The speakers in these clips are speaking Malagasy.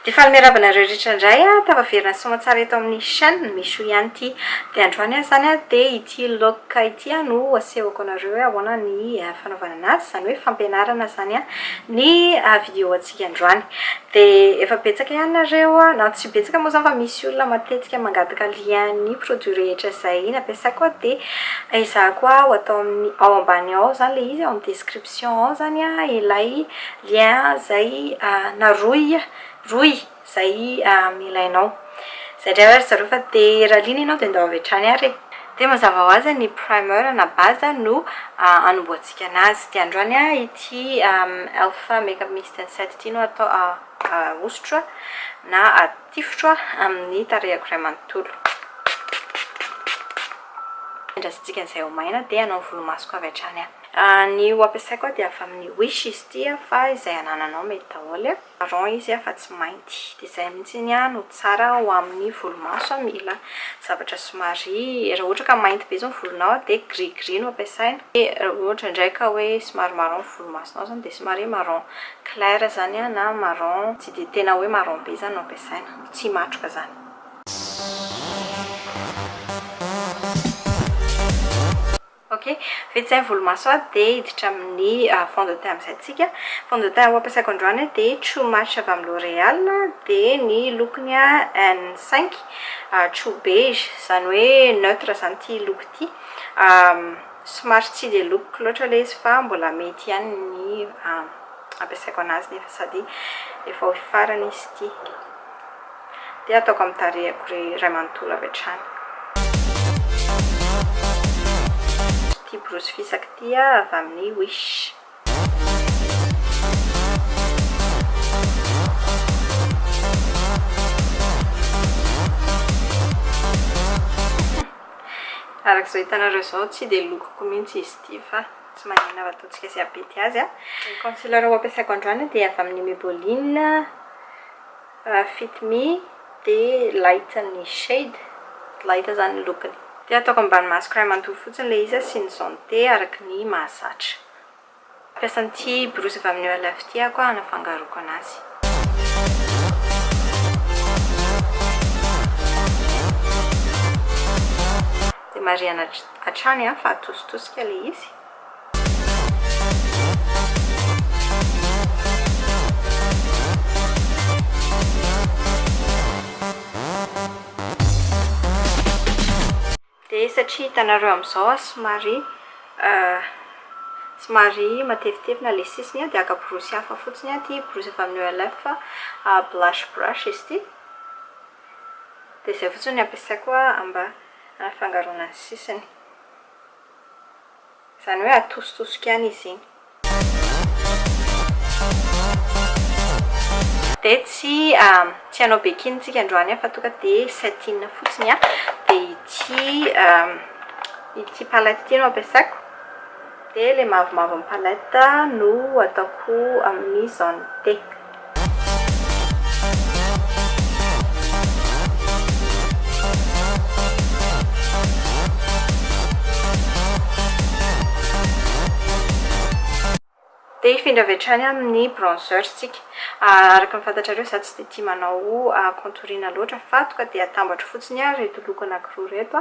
Dia faly miarahaba anareo rehetra indray an! Tafaverina soa aman-tsara eto amin'ny chaîne, Michou ihany ity. Dia androany aho izany an, dia ity look ity an no asehoko anareo hoe ahoana ny fanaovana anazy, izany hoe fampianarana izany an, ny vidéo antsika androany. Dia efa betsaka ihany nareo, na tsy betsaka moa izany fa misy olona matetika mangataka lien ny produit rehetra izay nampiasaiko an, dia ezahako aho atao amin'ny, ao ambany ao izany ilay izy, ao amin'ny description ao izany an ilay lien zay na rohy rohy zay ilainao zay ndray hoy ry zareo fa de raha liana ianao de ndao avy hatrany ary e! de mazava ho azy ny primer na base no anombohantsika anazy de androany ity elf makeup mix and set ity no atao ahosotro na atifitro amin'ny tarehiko iray manontolo andrasantsika an'izay ho maina de hanao ny volomasoko avy hatrany aho. Ny ho ampiasaiko aho dia avy amin'ny wish izy ity fa izay anananao mety daholo e, marron izy fa tsy mainty dia izay mihitsy no tsara ho amin'ny volomaso mila zavatra somary raha ohatra ka mainty be izao ny volonao dia gris gris no ampiasaina dia raha ohatra indray ka hoe somary marron ny volomasonao izany dia somary marron clair izany na marron tsy dia tena hoe marron be izany no ampiasaina, tsy himatroka izany. Ok, vita izay ny volomaso aho dia hiditra amin'ny fond de teint amin'izay tsika. Fond de teint ho ampiasaiko androany dia True Match avy amin'ny L'Oréal dia ny lokony N cinq True Beige, izany hoe neutre izany ity loko ity. Somary tsy dia lokoko loatra ilay izy fa mbola mety ihany ny ampiasaiko an'azy nefa sady efa ho farany izy ity. Dia ataoko amin'ny tarehiko ry Ray manontolo avy hatrany. Ity borosy fisaka ity ah avy amin'ny Wish. Araka izao hitanareo izao tsy dia lokoko mihitsy izy ity fa tsy maninona fa ataontsika sy abety azy an. Ny concealer ho ampiasaiko androany dia avy amin'ny Maybelline. Fit me dia light ny shade, light izany ny lokony. Dia ataoko ambany masoko iray manontolo fotsiny ilay izy asiany jaune thé araka ny mahazatra. Mampiasa an'ity borosy avy amin'ny Olaf ity aho koa hanafangaroako an'azy. Dia marihana hatrany fa atositosika ilay izy. Dia satria hitanareo amin'izao aho somary somary matevitevy na ilay sisiny an, dia haka borosy hafa fotsiny aho, ity borosy avy amin'ny OLF fa blush brush izy ity. Dia izay fotsiny no ampiasaiko mba hanafangaroana ny sisiny. Izany hoe atositosiko ihany izy iny. Dia tsy tsy hanao bekiny tsika androany an fa toa ka dia satin fotsiny an. Dia ity ity palette ity no ampiasaiko. Dia ilay mavomavo amin'ny palette no ataoko amin'ny zone T. Dia hifindra avy hatrany amin'ny bronzers tsika. Araka ny fantatrareo izaho tsy dia tia manao contouring loatra fa tonga dia atambatro fotsiny ireto loko anankiroa ireto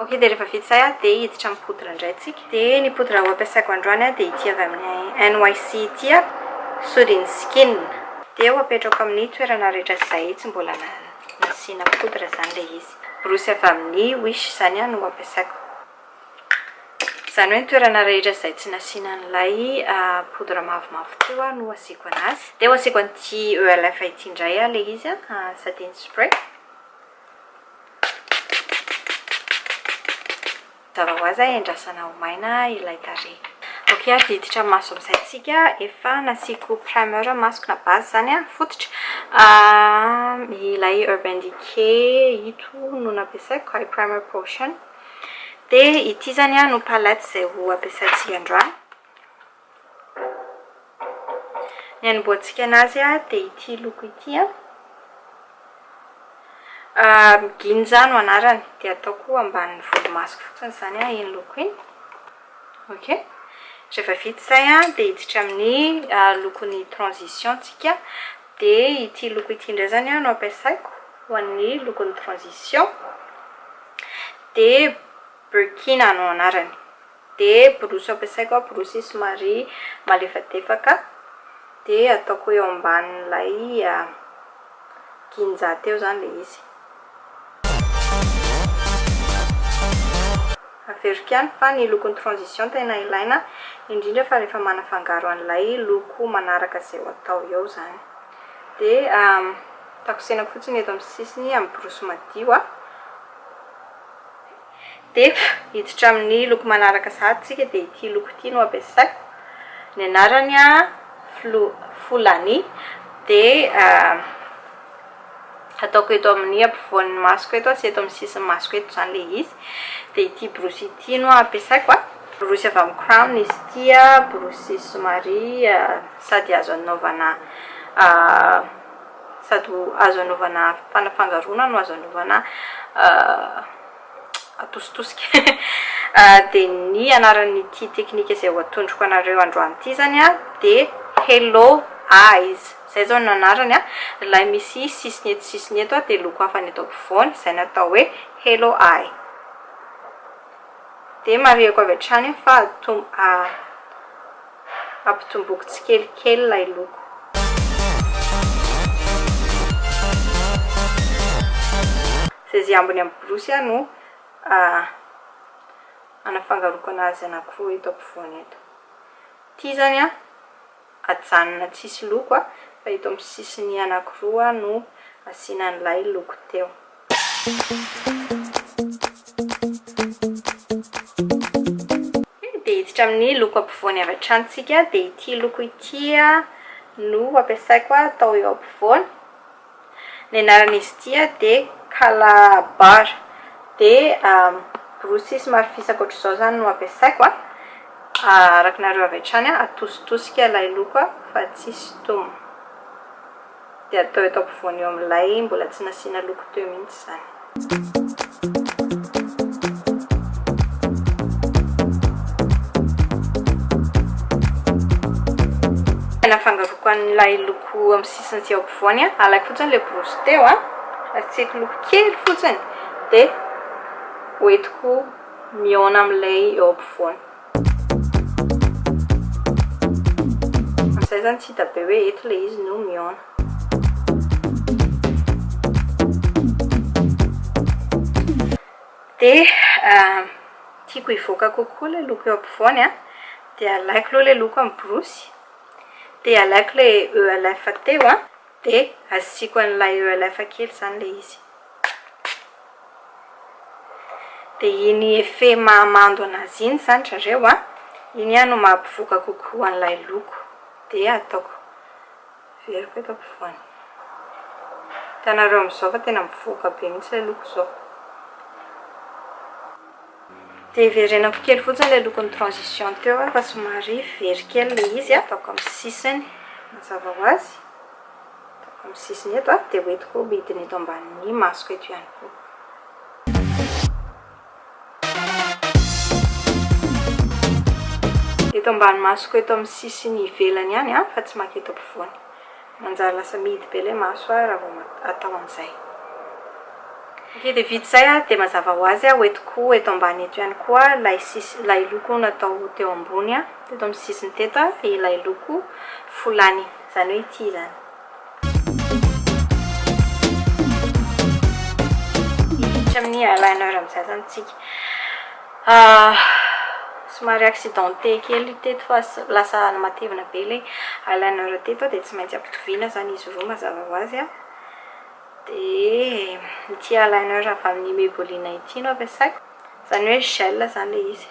Ok dia rehefa vita izay dia hiditra amin'ny poudre indray tsika. Dia ny poudre ampiasaiko androany dia ity avy amin'ny NYC ity a, Soothing Skin. Dia ho apetrako amin'ny toerana rehetra izay tsy mbola nasiana poudre izany ilay izy. Borosy avy amin'ny Wish izany no ampiasaiko. Izany hoe ny toerana rehetra izay tsy nasiana an'ilay poudre mavomavo teo no asiako anazy. Dia ho asiako an'ity ELF ity indray ilay izy a, Setting Spray. Mazava ho azy endrasana ho maina ilay tarehy. Ok ary diditra maso amin'izay tsika efa nasiako primer masoko na base izany an, fototra, ilay urban decay ito no nampiasaiko ilay primer potion dia ity izany no palette izay ho ampiasaintsika androany. Ny hanombohantsika anazy dia ity loko ity an. Ginja no anarany dia ataoko ambanin'ny volomasoko fotsiny izany an iny loko iny. Ok. Rehefa vita izay an dia hiditra amin'ny lokon'ny transition tsika. Dia ity loko ity indray izany an no ampiasaiko ho an'ny lokon'ny transition. Dia Burkina no anarany. Dia borosy ampiasaiko an, borosy somary malefadefaka dia ataoko eo ambanin'ilay ginja teo izany ilay izy. Averiko ihany fa ny lokon'ny transition tena ilaina indrindra fa rehefa manafangaro an'ilay loko manaraka izay ho atao eo izany. Dia takosenako fotsiny eto amin'ny sisiny amin'ny borosy madio an. Dia hiditra amin'ny loko manaraka sahady isika dia ity loko ity no ampiasaiko, ny anarany Flo-Folani dia ataoko eto amin'ny ampovoan'ny masoko eto sy eto amin'ny sisin'ny masoko eto izany ilay izy, dia ity borosy ity no ampiasaiko an, borosy avy amin'ny Crown izy ity an, borosy somary sady azo anaovana Sady ho azo anaovana fanafangaroana no azo anaovana atositosika. Dia ny anaran'ity teknika izay ho atondroko anareo androany ity izany an, dia Hello Eyes. Izay izao no anarany an. Ilay misy sisiny eto sisiny eto dia loko hafa ny eto ampovoany, izay no atao hoe Hello Eye. Dia marihiko avy hatrany aho fa ampitomboiko tsikelikely ilay loko. Zay ambiny amin'ny borosy aho no hanafangaroako an'azy anankiroa eto ampovoany eto. Ity izany an, ajanona tsisy loko a, fa eto amin'ny sisiny anakiroa no asiana an'ilay loko teo. Dia hiditra amin'ny loko ampovoany avy hatrany isika, dia ity loko ity no ampiasaiko atao eo ampovoany, Ny anaran'izy ity dia Calabar. Dia borosy somary fisaka ohatr'izao izany no ampiasaiko. Arakinareo avy hatrany, atositosika ilay loko fa tsy sintoma. Dia atao eto ampovoany eo amin'ilay mbola tsy nasiana loko teo mihitsy izany. Nafangaroko an'ilay loko amin'ny sisiny sy eo ampovoany an, alaiko fotsiny ilay borosy teo an, asiako loko kely fotsiny dia hoentiko mihaona amin'ilay eo ampovoany. Amin'izay izany tsy hita be hoe eto ilay izy no mihaona. Dia tiako hivoaka kokoa ilay loko eo ampovoany an, dia alaiko aloha ilay loko amin'ny borosy, dia alaiko ilay ELF teo an, dia asiako an'ilay ELF kely izany ilay izy. Dia iny effet mahamando an'azy iny izany ry zareo an, iny ihany no maha-mpivoaka kokoa an'ilay loko. Dia ataoko, averiko eto ampovoany. Hitanareo amin'izao fa tena mivoaka be mihitsy ilay loko izao. Dia verenako kely fotsiny ilay lokon'ny transition teo an, fa somary very kely ilay izy an. Ataoko amin'ny sisiny mazava ho azy. amin'ny sisiny eto dia ho entiko midina eto ambanin'ny masoko eto ihany koa. Eto ambany masoko eto amin'ny sisiny ivelany ihany fa tsy makita ampovoany. Manjary lasa mihidy be ilay maso aho raha vao atao an'izay. Ok dia vita izay dia mazava ho azy ho entiko eto ambany eto ihany koa ilay sisiny ilay loko natao teo ambony teto amin'ny sisiny teto ilay loko folany. Zany hoe ity zany. Hiditra amin'ny eyeliner amin'izay zany isika. Ah, somary accidenté kely teto fa lasa matevina be ilay eyeliner teto dia tsy maintsy ampitoviana zany izy roa mazava ho azy. Dia ity eyeliner avy amin'ny Maybelline ity no ampiasaiko. Zany hoe gel zany le izy.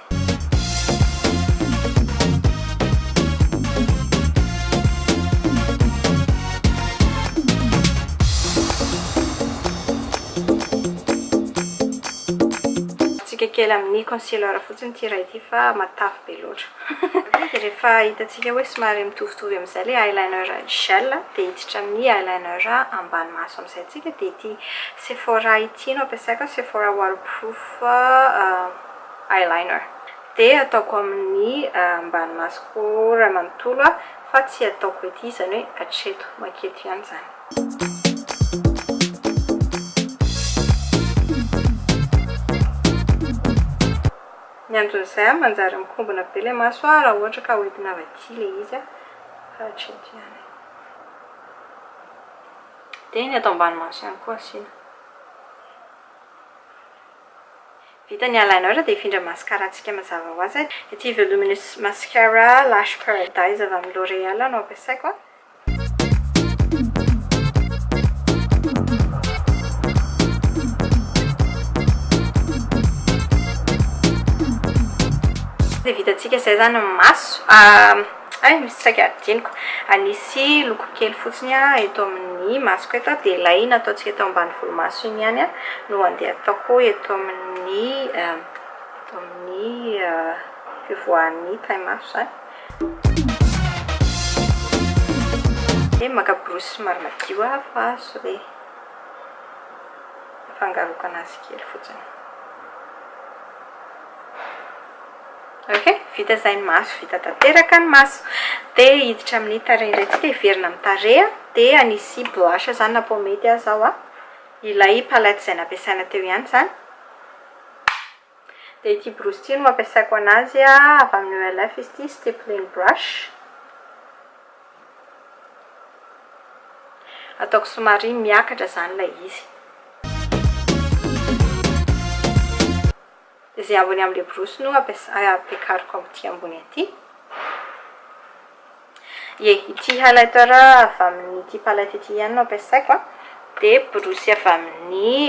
Tsika kely amin'ny concealer fotsiny ity iray ity fa matavy be loatra. Dia rehefa hitantsika hoe somary mitovitovy amin'izay ilay eyeliner gel dia hiditra amin'ny eyeliner ambany maso amin'izay tsika dia ity Sephora ity. Ity no ampiasaiko, Sephora Waterproof Eyeliner. Dia ataoko amin'ny ambany masoko iray manontolo aho, fa tsy ataoko ety, izany hoe hatreto, mankety ihany izany. Ny anton'izay, manjary mikombona be ilay maso raha ohatra ka hoentina avy aty ilay izy, fa hatreto ihany. Dia ny ato ambany maso ihany koa asiana. Vita ny eyeliner dia hifindra mascara antsika mazava ho azy. Ity voluminous mascara lash paradise avy amin'ny L'oreal no ampiasaiko a. Dia vitantsika izay izany ny maso. Hay misy saika adinoko. Anisy loko kely fotsiny aho eto amin'ny masoko eto dia ilay nataontsika eto ambany volomaso iny ihany no andeha ataoko eto amin'ny eto amin'ny fivoahan'ny tarehimaso izany. Dia maka borosy somary madio aho fa sao dia afangaroiko an'azy kely fotsiny. Ok, vita izay ny maso, vita tanteraka ny maso. Dia hiditra amin'ny tarehy indray tsika, hiverina amin'ny tarehy. Dia hanisy blanche izany na pomade aza aho. Ilay palette izay nampiasaina teo ihany izany. Dia ity borosy ity no ampiasaiko an'azy, avy amin'ny ELF izy ity, stippling brush. Ataoko somary miakatra izany ilay izy. Izay ambony amin'ilay borosy no ampiakariko amin'ity ambony ity. Ie, ity highlighter avy amin'ity palette ity ihany no ampiasaiko an. Dia borosy avy amin'ny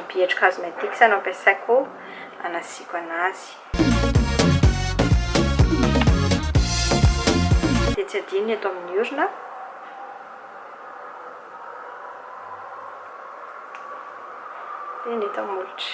BH Cosmetics no ampiasaiko hanasiako an'azy. Dia tsy adino ny eto amin'ny orona. Dia ny eto amin'ny molotra.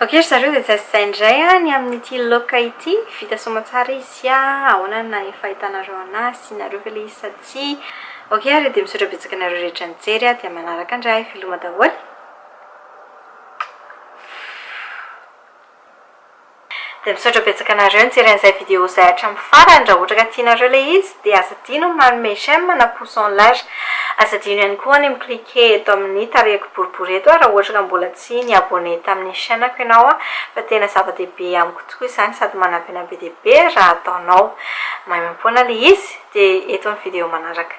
Ok ry zareo dia zay sy zay indray ny amin'ity loka ity, vita soamantsara izy sy ahoana ny fahitanareo an'ahy, asianareo ve ilay izy sa tsia? Ok ary dia misaotra betsaka anareo rehetra nijery aho dia manaraka indray veloma daholo. Dia misaotra betsaka anareo nijery an'izay vidéo izay hatramin'ny farany, raha ohatra ka tianareo ilay izy dia aza adino ny manome j'aime na pouce en l'air. Aza adino ihany koa ny mi-cliquer eto amin'ny tarehiko boribory eto raha ohatra ka mbola tsy ni-abonné tamin'ny chaîne-ko ianao fa tena zava-dehibe amiko tokoa izany sady manampy an'ahy be dia be raha ataonao. Maimaimpoana ilay izy, dia eto ny vidéo manaraka.